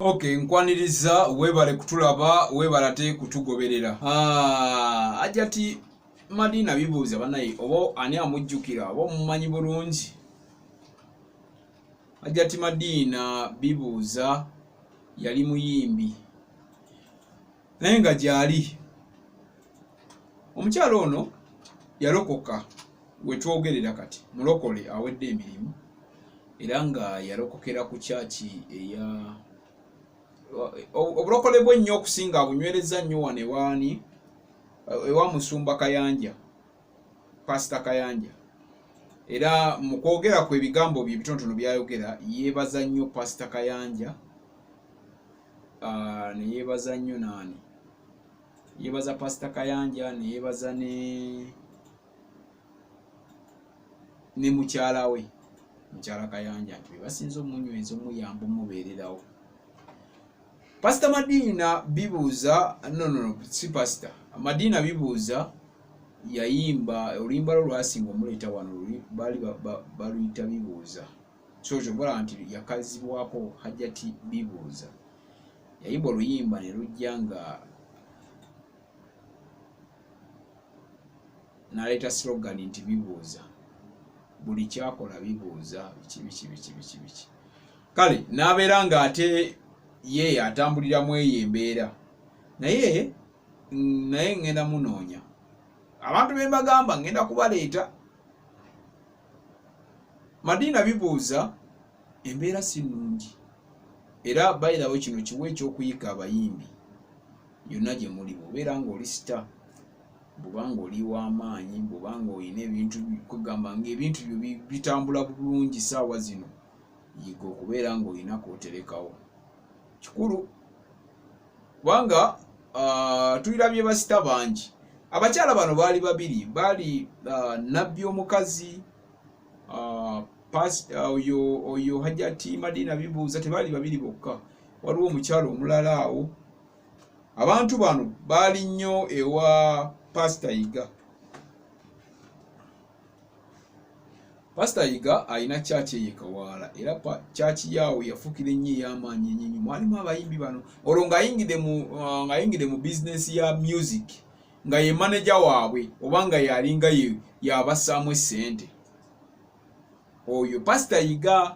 Okay, nkwaniriza webale kutulaba webale ate kutugoberera ah, ajati madina bibuuza banaye oba ani amujjukira oba omumanyi bulungi ajati madina bibuuza yali muyimbi naye nga gyali omukyala ono yalokoka wetwogerera kati mulokole awedde emirimu era nga yalokokera ku kyaki eya obulokole bwe nnyo okusinga abunywereza nnyo wano ewaani ewa musumba kayanja pasita kayanja era mu kwogera kwe ebigambo bye ebitonotono byayogera yeebaza nnyo pasita kayanja uh, neyebaza nnyo naani yebaza pasita kayanja neyebaza ne ne mukyala we mukyala kayanja nti bebasinza omunyweza omuyamba omubeererawo pasita madiina bibuuza nonono si pasita madiina bibuuza yayimba oluyimba lwo lwasinga omuleeta wano baali baluyita bibuuza so kyogala nti yakazibwako hajjati bibuuza yayimba oluyimba ne lujja nga naleeta slogan nti bibuuza buli kyakola bibuuza biki biki biki biki biki kale n'abeera nga ate ye atambulira mu eyo embeera naye naye ŋŋenda munoonya abantu be mbagamba ŋŋenda kubaleeta madiina bibuuza embeera si nnungi era bayirawo kino kiwa ekyokuyika abayimbi yonna gye muli bwobeera ngaoli sita bwobanga oli wamaanyi bwobanga olina ebintu kugamba ngaebintu byo bitambula bulungi saawa zino yiga okubeera ngaolina kwoterekawo kikulu kubanga uh, tulirabye basita bangi abakyala bano baali babiri baali uh, nabbi omukazi uh, uh, oyo uh, oyo hajati madina bibuuza tebaali babiri bokka waliwo omukyalo omulala awo abantu bano baali nnyo ewa pasita yiga pasita yiga alina kyaki eye kawaala era kyaki yaawo yafukira ennyo ey'amaanyi enyinyi mwalimu abayimbi bano olwo ng'ayingidde mu uh, ng'ayingidde mu bizinesi ya music nga ye maneja waabwe oba nga yalinga ye yabassaamu essente oyo pasita yiga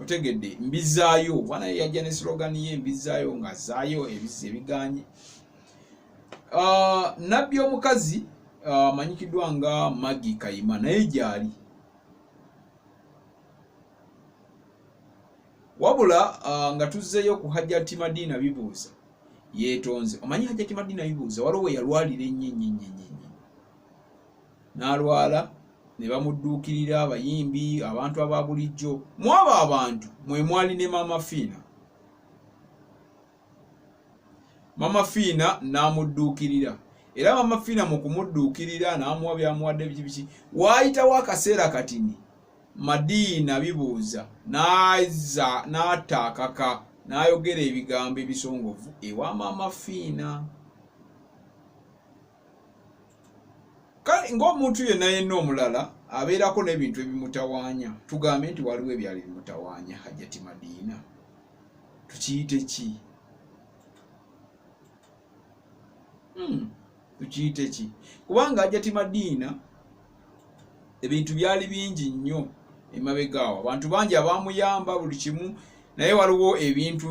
otegedde mbizaayo bwana ye yajja ne slogan ye mbizaayo nga zaayo ebizzi ebiganye ah, nabbi omukazi ah, amanyikiddwa uh, nga magi kayima naye gyali wabula uh, nga tuzzeeyo ku hajjati madiina bibuuza yeetonze omanyi hajjati madiina bibuuza waliwo weyalwalira ennyo ennyo ennyo ennyo n'alwala ne bamudduukirira abayimbi abantu aba bulijjo mwaba abantu mwe mwali ne maama fiina maama fiina n'amudduukirira era maama fiina mu kumudduukirira n'amuwa byamuwadde biki biki waayitawo akaseera katini madiina bibuuza n'aza n'ataakaka n'ayogera ebigambo ebisongovu ewa maama fiina kale ng'omuntu yenna yenna omulala abeerako n'ebintu ebimutawaanya tugambe nti waliwo ebyali bimutawaanya hajjati madiina tukiyite ki hmm, tukiyite ki kubanga hajjati madiina ebintu byali bingi nnyo emabegaawo abantu bangi abamuyamba buli kimu naye waliwo ebintu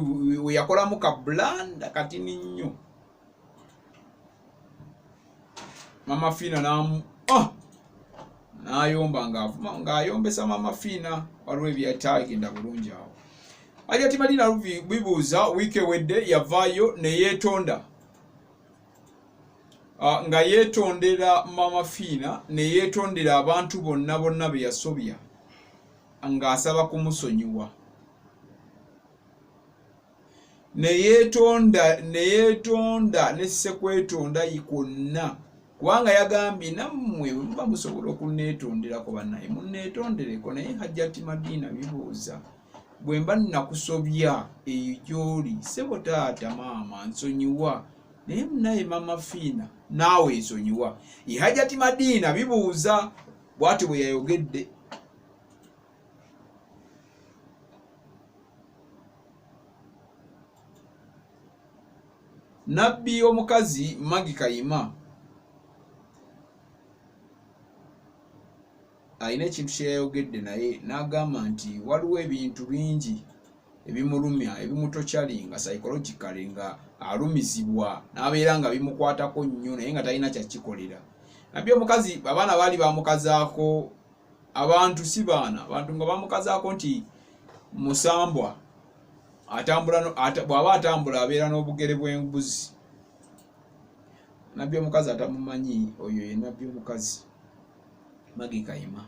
weyakolamu kablanda katini nnyo mama fiina namu oh! Ah! nayomba ngaavuma ngaayombesa mama fiina waliwo ebyatagenda bulungi awo alya timalina bibuuza wiiki ewedde yavaayo neyeetonda ah, nga yeetondera mama fiina neyeetondera abantu bonna bonna be yasobya ng'asaba kumusonyiwa neyetonda neyetonda nesekwetonda kwonna kubanga yagambye nammwe bwemuba musobola okunetonderako banaye munetondereko naye hajjati madiina bibuuza bwe mba nakusobya eyo gyoli sebo taata maama nsonyiwa naye munaye mama fiina naawe nsonyiwa ihajati madiina bibuuza bwati bwe yayogedde nabbi omukazi magi kayima alina ekintu kyeyayogedde naye n'agamba nti waliwo ebintu bingi ebimulumya ebimutokyali nga psychologically nga alumizibwa n'abeera nga bimukwatako nnyo naye nga talina kyakikolera nabbi omukazi abaana baali bamukazaako abantu si baana abantu nga bamukazaako nti musambwa atambula bw'aba atambula abeera n'obugere bw'embuzi nabbi omukazi atamumanyi oyo ye nabbi omukazi magi kayima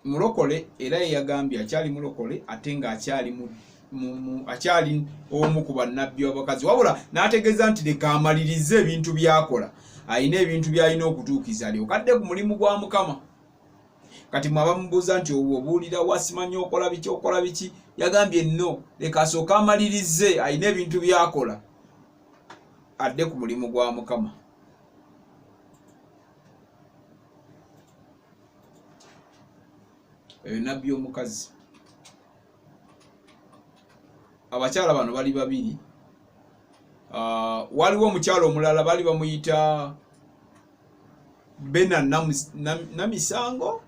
mulokole era yeyagambye akyali mulokole ate nga akyali mu akyali omu ku bannabbi abakazi wabula n'ategeeza nti leka amalirize ebintu byakola alina ebintu byalina okutuukiza alyokadde ku mulimu gwa mukama kati mwe abamubuuza nti obuulira wasimanyi okola biki okola biki yagambye no leka asooke amalirize alina ebintu byakola adde ku mulimu gwa mukama eyo nabbi omukazi abakyala bano bali babiri ah, waliwo omukyala omulala bali bamuyita bena namisango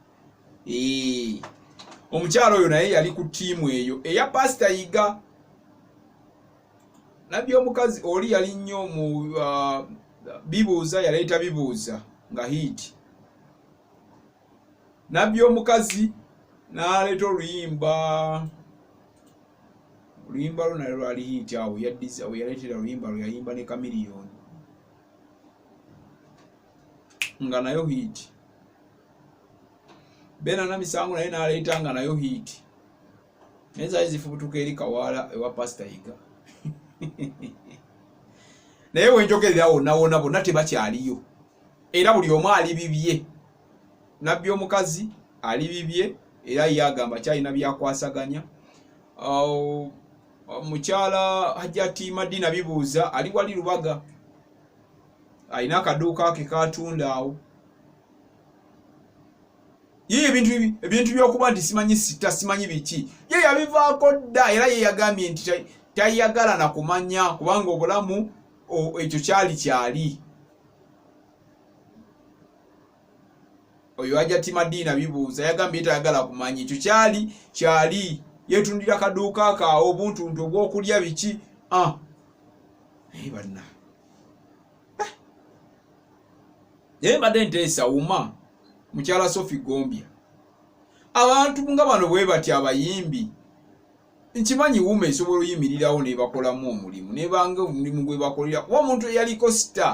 omukyala oyo naye yali ku tiimu eyo eya pasita yiga nabbi omukazi oli yali nnyo mu uh, bibuuza yaleeta bibuuza nga hiiti nabbi omukazi n'aleeta oluyimba oluyimba lwo nalyo lwali hiiti awo yaddiza awo yaleetera oluyimba lwe yayimba ne kamiliyoni nga nayo hiiti beena na misango naye n'aleeta nga nayo hiiti naye zaali zifubutuka eri kawaala ewa pasita yiga naye wenjogerera wonawona bonna tebakyaliyo era buli omu ali bibye nabbi omukazi ali bibye era ye agamba kyalina byakwasaganya mukyala hajati madina bibuuza ali wali lubaga alina akaduuka ke katunda awo ye ebintu ebintu byokuba nti simanyi sita simanyi biki ye yabivaako dda era ye yagambye nti tayagala na kumanya kubanga obulamu ekyo kyali kyali oyo ajja timadiina bibuuza yagambye tayagala kumanya ekyo kyali kyali yetundira kaduuka ka obuntuntu obwokulya biki ah. naye banna naye mbadde nteesa wuma mukyala sofi gombya abantu nga bano bwe bati abayimbi nkimanyi wuma esobola oyimirirawo nebakolamu omulimu nebanga omulimu gwe bakolera kuba omuntu eyaliko sita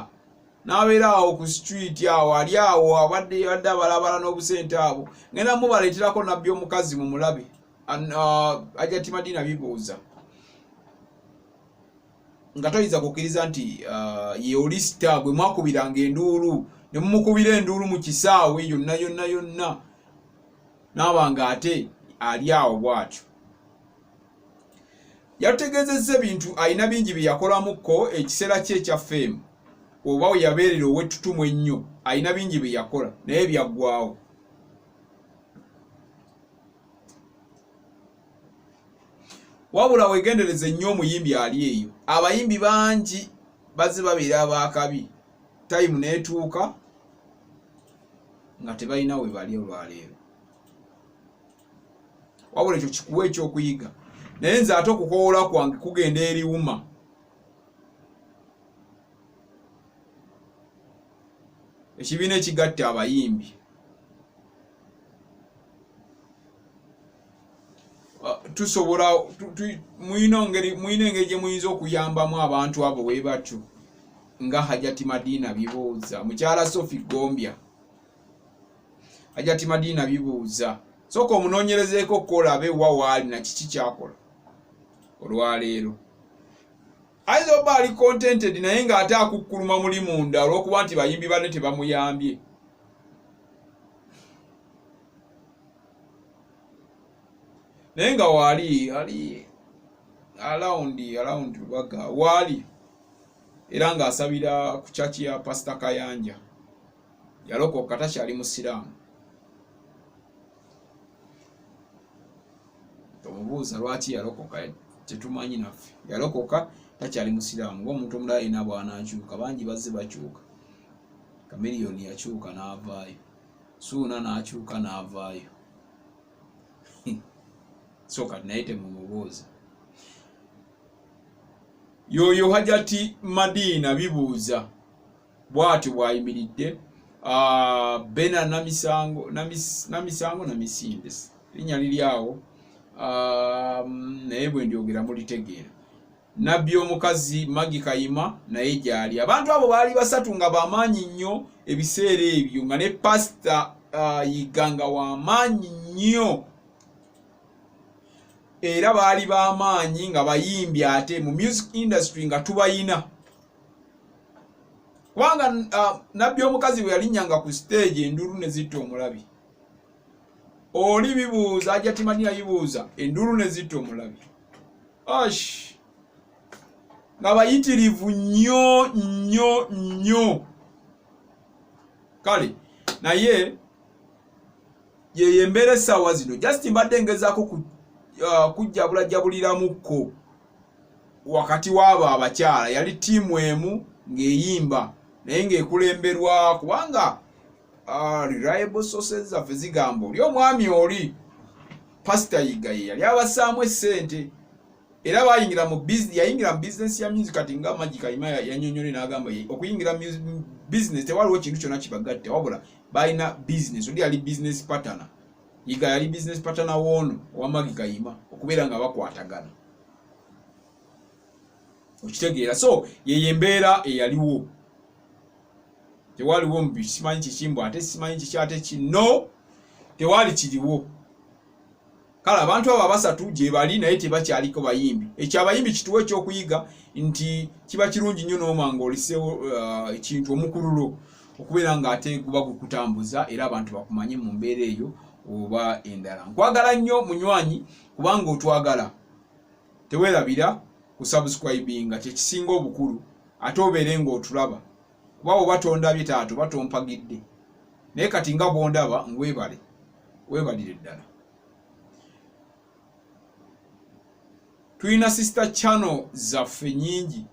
nabeera awo ku street awo ali awo abadde yadde abalabala n'obusente abo ngenda mubaleeterako nabbi omukazi mu mulabe uh, ajatimadina bibuuza nga toyinza kukkiriza nti uh, ye oli sita gwe mwakubiranga enduulu ne mumukubira enduulu mu kisaawe yonna yonna yonna naaba nga ate ali awo bwatyo yatutegeezezza ebintu alina bingi bye yakolamukko ekiseera kye ekya feemu oba we yabeerera ow'ettutumu ennyo alina bingi bye yakola naye byaggwawo wabula wegendereze nnyo omuyimbi ali eyo abayimbi bangi bazze babeera abakabi tayimu netuuka nga tebalina we bali olwaleero wabula ekyo kikuwa ekyokuyiga naye nze ate okukowoola kwange kugenda eriwuma ekibiina ekigatta abayimbi tusobola muyina engeri gye muyinza okuyambamu abantu abo bwe batyo nga hajati madiina bibuuza mukyala sofi gombya hajati madiina bibuuza soka omunonyerezeeko okukola abe wa waali na kiki kyakola olwaleero ayinza oba ali contented naye ng'ate akukkuluma muli munda olw'okuba nti bayimbi banne tebamuyambye naye nga waali ali alawundi alawundi lubaga waali era ng'asabira ku kyaki ya pasita kayanja yalokoka takyali musiraamu tomubuuza lwaki yalokoka tetumanyi naffe yalokoka takyali musiraamu ngaomuntu omulala alina bwanakyuka bangi bazze bakyuka kamiriyoni yakyuka n'avaayo suuna n'akyuka n'avaayo so kati naye temumubuuza yoyo hajati madiina bibuuza bwatyo bwayimiridde ah, bena namisango namisango namisinde linya liri awo ah, naye bwendyogera mulitegeera nabbi omukazi magi kayima naye gyali abantu abo baali basatu nga bamaanyi nnyo ebiseera ebyo nga ne pasita ah, yiganga wamaanyi nnyo era baali bamaanyi nga bayimbi ate mu music industry nga tubayina kubanga uh, nabbi omukazi bwe yalinyanga ku siteegi enduulu ne zitta omulabi oli bibuuza ajja timanyi yayibuuza enduulu ne zitta omulabi ash nga bayitirivu nnyo nnyo nnyo kale naye yeyo embeera essaawa zino just mbadde ngezaako uh, kujjabulajjabuliramukko wakati w'abo abakyala yali ttiimu emu ng'eyimba naye ng'ekulemberwa kubanga ah, reliable sources zaffe zigamba oli omwami oli pasita yiga ye yali abasaamu essente era bayingira mu yayingira mu bizinesi ya music kati nga magikayima yanyonyole n'agamba ye okuyingira bizinesi tewaliwo kintu kyonna kibagatte wabula balina bizinesi oli yali bizinesi patana yiga yali business partner woono owamagi kayima okubeera nga bakwatagana okitegeera so yeyo embeera eyaliwo tewaliwo mbi simanyi kikimbu ate simanyi kiki ate kino tewali kiriwo kale abantu abo abasatu gyebali naye tebakyaliko bayimbi ekyo abayimbi kituwa ekyokuyiga nti kiba kirungi nnyo n'omanga olisewo uh, ekintu omukululo uh, okubeera nga ate guba gukutambuza era abantu bakumanye mu mbeera eyo oba endala nkwagala nnyo munywanyi kubanga otwagala tewerabira ku subscribinga kyekisinga obukulu ate obeere ngaotulaba kuba oba tondabye taato oba tompagidde naye kati nga bwondaba ngwebale webalire ddala tulina sister channel zaffe nyingi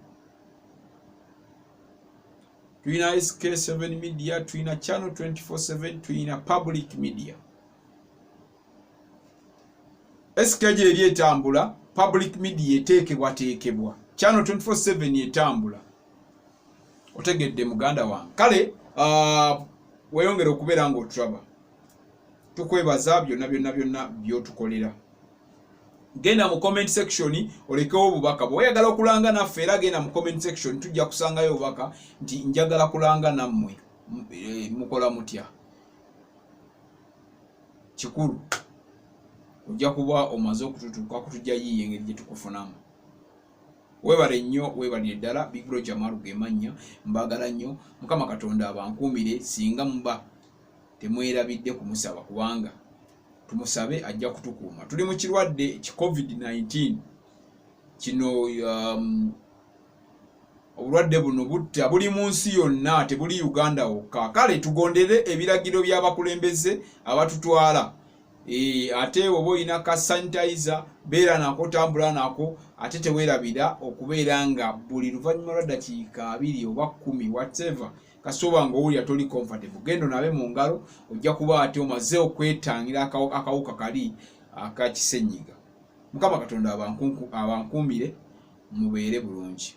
tulina sk7 media tulina channel 247 tulina public media sk gyeri etambula public media eteekebwateekebwa channel 247 etambula otegedde muganda wange kale uh, weyongere okubeera nga otulaba tukwebaza byonna byonna byonna byotukolera genda mu comment section olekewo obubaka bwe wayagala okulanga naffe era genda mu comment section tujja kusangayo obubaka nti njagala kulanga nammwe eh, mukola mutya kikulu ojja kuba omaze okututuuka kutujja yiiyo engeri gye tukufunamu webale nnyo webalire ddala big bro jamaru gemannya mbagala nnyo mukama katonda abankuumire singa muba temwerabidde kumusaba kubanga tumusabe ajja kutukuuma tuli mu kirwadde ki covid-19 kino um, obulwadde buno butta buli mu nsi yonna tebuli uganda wokka kale tugondere ebiragiro by'abakulembeze abatutwala e, ate oba olina ka sanitizer beera nako tambula nako ate tewerabira okubeera nga buli luvannyuma lwa ddakiika abiri oba kumi whatever kasita oba nga owulira toli comfortable genda onabe mu ngalo ojja kuba ate omaze okwetangira akawuka kali akakisenyiga mukama katonda abankuumire mubeere bulungi